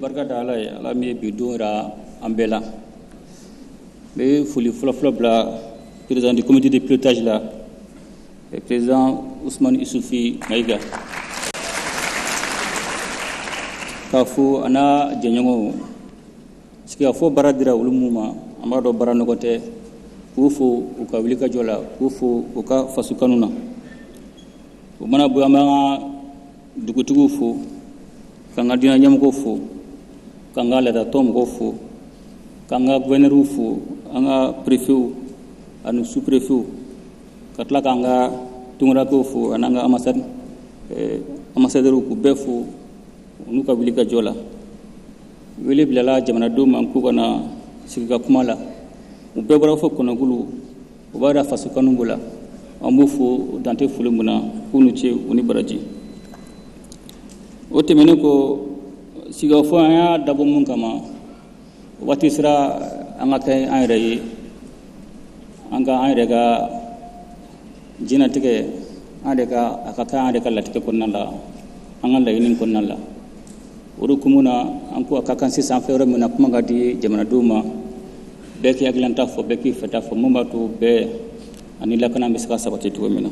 barika da ala ye ala min ye bi don jira an bɛɛ la n bɛ foli fɔlɔfɔlɔ bila président du comité de pilotage la k'a fo a n'a jɛɲɔgɔnw sigikafɔ baara dira olu minnu ma an b'a dɔn baara nɔgɔ tɛ k'u fo u ka wuli ka jɔ la k'u fo u ka faso kanu na o mana bɔ an b'an ka dugutigiw fo k'an ka diina ɲɛmɔgɔw fo k'an ka laadatɔn mɔgɔw fo k'an ka guvɛnɛriw fo an ka perefew ani superefew ka tila k'an ka tungarankɛw fo an'an ka anbasadɛriw k'u bɛɛ fo n'u ka wuli ka jɔ la wele bilala jamanadenw ma k'u ka na sigi ka kuma la u bɛɛ bɔra fɔ kɔnɔkulu o b'a da faso kanu b'u la an b'u fo dan tɛ foli min na k'u ni ce u ni baraji o tɛmɛnen kɔ sigikafɔ an y'a dabɔ mun kama waati sera an ka kɛ an yɛrɛ ye an ka an yɛrɛ ka diɲɛnatigɛ an yɛrɛ ka a ka kɛ an yɛrɛ ka latigɛ kɔnɔna la an ka laɲini kɔnɔna la o de hukumu na an ko a ka kan sisan fɛn yɔrɔ min na kuma ka di jamanadenw ma bɛɛ k'i hakilinata fɔ bɛɛ k'i fɛta fɔ mun b'a to bɛn ani lakana bɛ se ka sabati cogo min na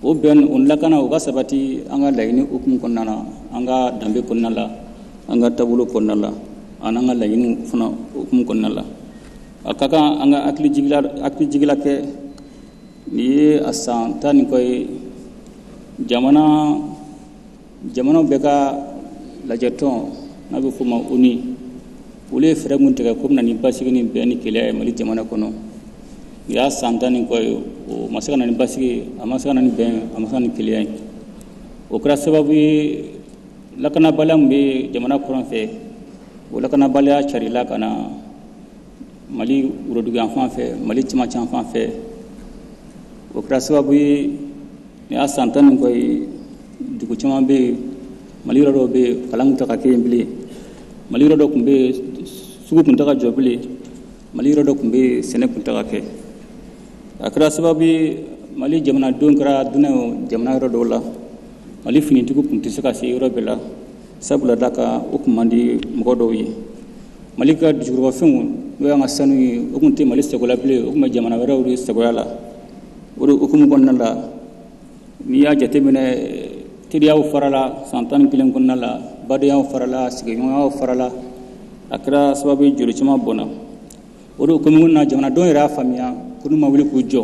O bɛn o lakana o ka sabati an ka laɲini hukumu kɔnɔna na, an ka danbe kɔnɔna la, an ka taabolo kɔnɔna la, an'an ka laɲiniw fana hukumu kɔnɔna la. A ka kan an ka hakili jigila hakili jigila kɛ nin ye a san tan ni kɔ ye jamana jamana bɛɛ ka lajɛtɔn n'a bɛ fɔ ma ONU olu ye fɛɛrɛ minnu tigɛ k'o bɛ na ni basigi ni bɛn ni kelen ye mali jamana kɔnɔ u y'a san tan ni kɔ ye o ma se ka na ni basigi a ma se ka na ni bɛn a ma se ka ni kelen ye o kɛra sababu ye lakanabaliya min bɛ jamana kɔrɔn fɛ o lakanabaliya carila ka na mali woroduguyanfan fɛ mali cɛmancɛ fan fɛ o kɛra sababu ye Nin y'a san tan ni kɔ ye dugu caman bɛ yen mali yɔrɔ dɔ bɛ yen kalan tɛ ka kɛ yen bilen mali yɔrɔ dɔ tun bɛ yen sugu tun tɛ ka jɔ bilen mali yɔrɔ dɔ tun bɛ yen sɛnɛ tun tɛ ka kɛ a kɛra sababu mali jamanadenw kɛra dunan jamana yɔrɔ dɔw la mali finitigiw tun tɛ se ka se yɔrɔ bɛɛ la sabula da kan o tun man di mɔgɔ dɔw ye mali ka dugujukɔrɔfɛnw n'o y'an ka sanu ye o tun tɛ mali sago la bilen o tun bɛ jamana wɛrɛw de sagoya la o de hukumu kɔnɔna la n'i y'a jateminɛ teriyaw farala san tan ni kelen kɔnɔna la badenyaw farala sigiɲɔgɔnyaw farala a kɛra sababu ye joli caman bɔnna o de hukumu na jamanadenw yɛrɛ y'a faamuya ko n'u ma wuli k'u jɔ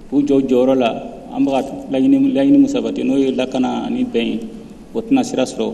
k'u jɔ jɔyɔrɔ la an bɛ ka laɲini min sabati n'o ye lakana ani bɛn ye o tɛna sira sɔrɔ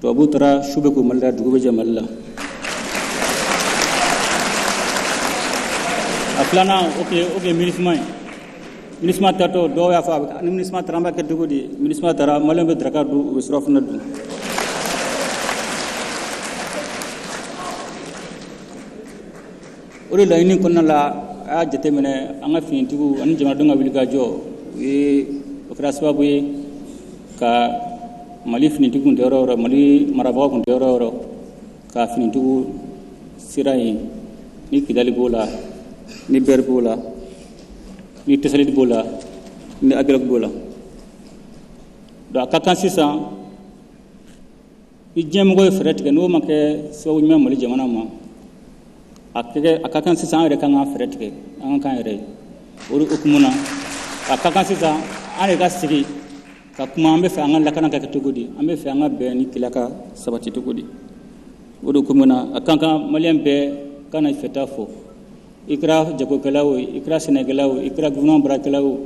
tubabu taara su bɛ ko mali la dugu bɛ jɛ mali la a filanan o tun ye minisima ye minisima taatɔ dɔw y'a fɔ ni minisima taara an b'a kɛ cogo di minisima taara maliyɛn bɛ daraka dun u bɛ surafana dun o de laɲini kɔnɔna la a y'a jateminɛ an ka finitigiw ani jamanadenw ka wulikajɔ o ye o kɛra sababu ye ka mali finitigiw kun tɛ yɔrɔ o yɔrɔ mali marabagaw kun tɛ yɔrɔ o yɔrɔ ka finitigiw sera yen ni kidali b'o la ni bɛri b'o la ni tesaliti b'o la ni agɛlɔki b'o la donc a ka kan sisan I diɲɛmɔgɔw ye fɛɛrɛ tigɛ n'o ma kɛ sababu ɲuman Mali jamana ma, a ka kɛ a ka kan sisan an yɛrɛ ka kan ka fɛɛrɛ tigɛ an ka k'an yɛrɛ ye o de hukumu na a ka kan sisan an yɛrɛ ka sigi ka kuma an bɛ fɛ an ka lakana ka kɛ cogo di an bɛ fɛ an ka bɛn ni kelenya ka sabati cogo di o de hukumu na a ka kan Maliyɛn bɛɛ ka na i fɛta fɔ i kɛra jagokɛla o i kɛra sɛnɛkɛla o i kɛra gouvernement baarakɛla o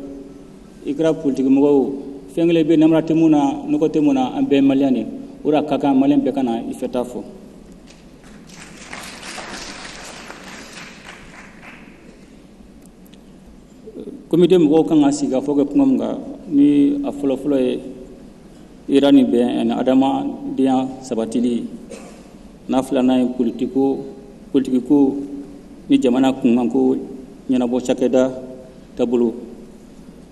i kɛra politikimɔgɔ o fɛn kelen bɛ namara tɛ min na nɔgɔ tɛ min na an bɛɛ maliyɛn ye o de la a ka kan maliyɛn bɛɛ ka na i fɛta fɔ komite mɔgɔw ka kan ka sigi ka fɔ kɛ kuma min kan ni a fɔlɔfɔlɔ ye hɛra ni bɛn ani adamadenya sabatili ye n'a filanan ye politiko politikiko ni jamana kunkanko ɲɛnabɔ cakɛda taabolo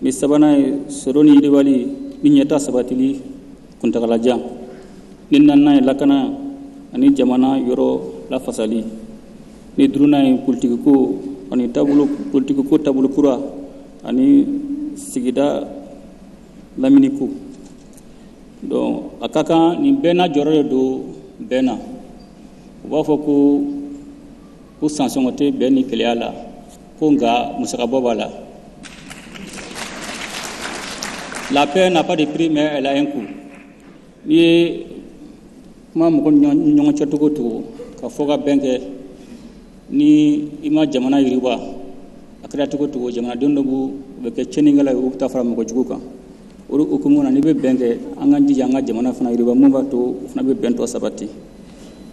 ni sabanan ye sɔrɔ ni yiriwali ni ɲɛta sabatili kuntagalajan ni naaninan ye lakana ani jamana yɔrɔ lafasali ni duurunan ye politikiko ani taabolo politikiko taabolo kura ani sigida laminiko donc a ka kan nin bɛɛ n'a jɔyɔrɔ de don bɛn na u b'a fɔ ko ko sansɔngɔ tɛ bɛn ni kelenya la ko nka musakabɔ b'a la la paix n'a pas de prix mais elle a un coût n'i ye kuma mɔgɔ ni ɲɔgɔn cɛ cogo cogo ka fɔ ka bɛn kɛ ni i ma jamana yiriwa a kɛra cogo cogo jamanaden dɔ b'u u bɛ kɛ cɛnikɛla ye u bɛ taa fara mɔgɔ jugu kan o hukumu na n'i bɛ bɛn kɛ an ka jija an ka jamana fana yiriwa mun b'a to o fana bɛ bɛn tɔ sabati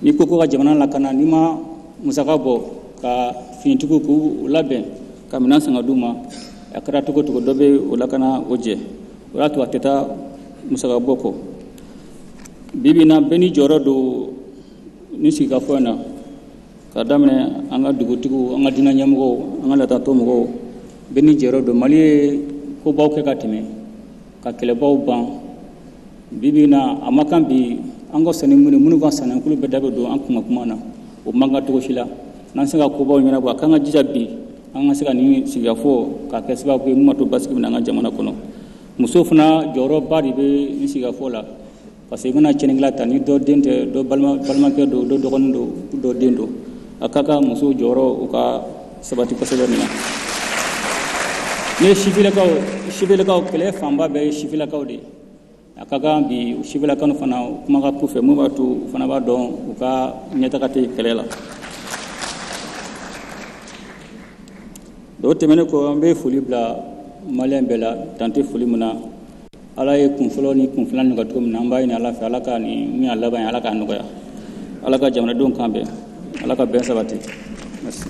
n'i ko ko ka jamana lakana n'i ma musaka bɔ ka finitigiw k'u labɛn ka minɛn san ka d'u ma a kɛra cogo cogo dɔ bɛ o lakana o jɛ o y'a to a tɛ taa musaka bɔ kɔ bi bi in na bɛɛ n'i jɔyɔrɔ don nin sigikafɔ in na ka daminɛ an ka dugutigiw an ka diinɛ ɲɛmɔgɔw an ka laadatɔn mɔgɔw bɛɛ n'i jɔyɔrɔ don mali ye kobaw kɛ ka tɛmɛ ka kɛlɛbaw ban bi bi in na a ma kan bi an ka sani minnu minnu ka sanankulu bɛ da bɛ don an kuma kuma na o man kan cogo si la n'an se ka kobaw ɲɛnabɔ a k'an ka jija bi an ka se ka nin sigikafɔ k'a kɛ sababu ye min b'a to basigi bɛ na an ka jamana kɔnɔ musow fana jɔyɔrɔba de bɛ nin sigikafɔ la Parce que i mana cɛnikɛla ta ni dɔ den tɛ dɔ balimakɛ don dɔ dɔgɔnin don dɔ den don a ka kan musow jɔyɔrɔ u ka sabati kosɛbɛ nin na n'i ye sifilakaw sifilakaw kɛlɛ fanba bɛɛ ye sifilakaw de ye a ka kan bi sifilakanu fana kuma ka k'u fɛ mun b'a to u fana b'a dɔn u ka ɲɛtaga tɛ kɛlɛ la o tɛmɛnen kɔ an bɛ foli bila maliyɛn bɛɛ la dan tɛ foli min na ala ye kun fɔlɔ ni kun filan nɔgɔya cogo min na an b'a ɲini ala fɛ ala ka nin min y'a laban ye ala k'a nɔgɔya ala ka jamanadenw kan bɛn ala ka bɛn sabati merci